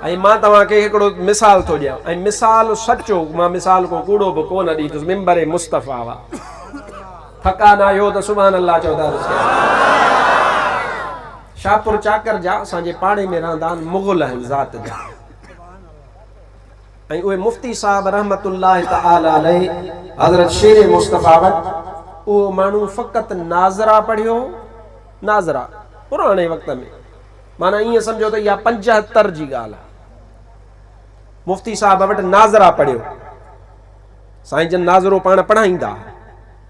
۽ مان توهان کي هڪڙو مثال ٿو ڏيان ۽ مثال سچو مان مثال ڪو ڪوڙو به ڪو نه ڏيندس منبر مصطفيٰ وا ٿڪا نه آهيو ته سبحان الله چئو ته عرض ڪيان شاهپور چاڪر جا اسان جي پاڙي ۾ رهندا آهن مغل آهن ذات جا ۽ اهي مفتي صاحب رحمت الله تعالي عليه حضرت شير مصطفيٰ وٽ اهو ماڻهو فقط ناظرا پڙهيو ناظرا پراڻي وقت ۾ معنيٰ ائين سمجهو ته اها پنجهتر جي ڳالهه آهي. مفتي صاحب وٽ ناظره پڙهيو. سائين جن ناظرو پاڻ پڙهائيندا هئا.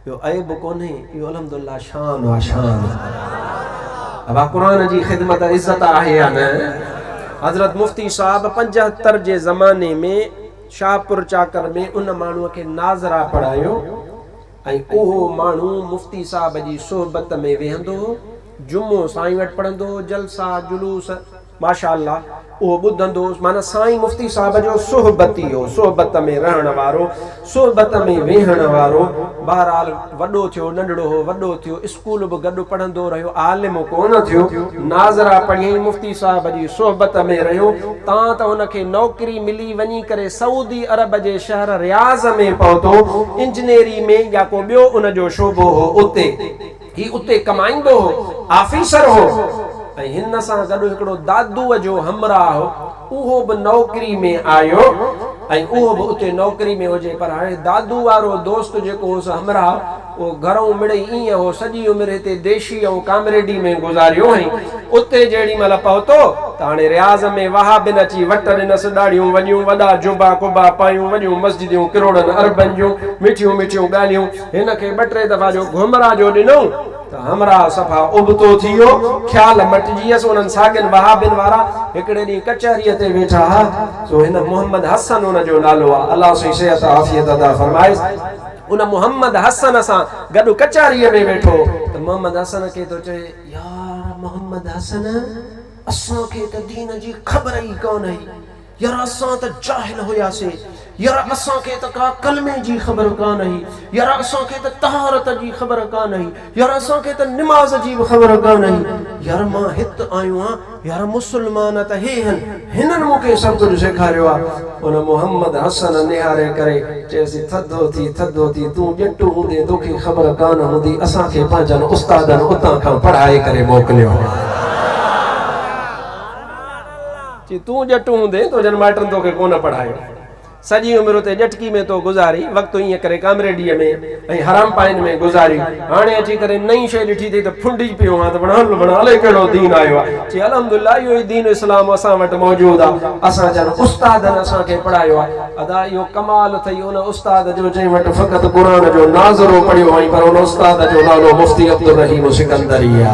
اهو عيب ڪونهي، اهو الحمدلله شان آ شان. ابا قرآن جي خدمت عزت آهي يا نه؟ حضرت مفتي صاحب پنجهتر جي زماني ۾ شاهپور چاڪر ۾ ان ماڻهوء کي ناظره پڙهايو. ۽ اهو ماڻهو مفتي صاحب جي صحبت ۾ ويهندو هو، جمعو سائين وٽ پڙهندو هو، جلسا، جلوس، ماشاء الله، اهو ٻڌندو هوس، معنيٰ سائين مفتي صاحب جو صحبتي هو، صحبت ۾ رهڻ وارو، صحبت ۾ ويهڻ وارو، بهرحال وڏو ٿيو، ننڍڙو هو، وڏو ٿيو، اسڪول به گڏ پڙهندو رهيو، عالم ڪونه ٿيو، ناظره پڙهيائين مفتي صاحب جي صحبت ۾ رهيو، تان ته هن کي نوڪري ملي، وڃي ڪري سعودي عرب جي شهر رياض ۾ پهتو، انجنيري ۾ يا ڪو ٻيو ان جو شعبو هو اتي. هي اتي ڪمائيندو هو، آفيسر هو ۽ هن سان گڏ هڪڙو دادوء جو همراهه هو، اهو به نوڪري ۾ آيو ۽ اهو به اتي نوڪري ۾ هجي پر هاڻي دادوء وارو دوست جيڪو هوس همراهه، اهو گهرئون مڙئي ايئن هو، سڄي عمر هتي ديشي ۽ ڪامريڊي ۾ گذاريو هئائين. اتي جيڏي مهل پهتو ته هاڻي رياض ۾ وهابين اچي وٽ ڏنس، ڏاڙهيون وڏيون، وڏا جبا قبا پايون، وڏيون مسجديون ڪروڙن اربن جون، مٺيون مٺيون ڳالهيون. هن کي ٻه ٽي دفعا جو گهمرا جو ڏنئون ته همراهه صفا ابتو ٿي ويو، خيال مٽجي ويس. انهن ساڳين وهابين وارا هڪڙي ڏينهن ڪچهريء تي ويٺا ها، سو هن محمد حسن ان جو نالو آ، الله سائين صحت عافيت عطا فرمائيس، ان محمد حسن سان گڏ ڪچهريء ۾ ويٺو ته محمد حسن کي ٿو چئي، يار محمد حسن! اسان کي ته دين جي خبر ئي ڪانه هئي. يار اسان ته جاهل هياسين. يار اسان کي ته ڪا ڪلمي جي خبر ڪانه هئي. يار اسان کي ته طهارت جي خبر ڪانه هئي. يار اسان کي ته نماز جي به خبر ڪانه هئي يار مان هت آيو آهيان يار مسلمان ته هي هن هنن مون کي سڀ ڪجهه سيکاريو آهي ان محمد حسن نهاري ڪري چيس ٿڌو ٿي ٿڌو ٿي تون ڄٽ هوندين توکي خبر ڪانه هوندي اسان کي پنهنجن استادن اتان کان پڙهائي ڪري موڪليو چي تون ڄٽ هوندين تنهنجن مائٽن توکي ڪونه پڙهايو. سڄي عمر اتي ڄٽڪي ۾ تو گذاري، وقت ائين ڪري ڪامريڊيء ۾ ۽ حرامپائين ۾ گذاري، هاڻي اچي ڪري نئين شيء ڏٺي اٿئي ته ڦنڊجي پيو آن ته وڻهان لڀڻ الائي ڪهڙو دين آيو آ. چي الحمد الله اهو ئي دين اسلام اسان وٽ موجود آ، اسان جن استادن اسان کي پڙهايو آ. ادا اهو ڪمال اٿئي ان استاد جو جنهن وٽ فقط قرآن جو ناظرو پڙهيو هئائين پر ان استاد جو نالو مفتي عبدالرحيم سڪندري آ.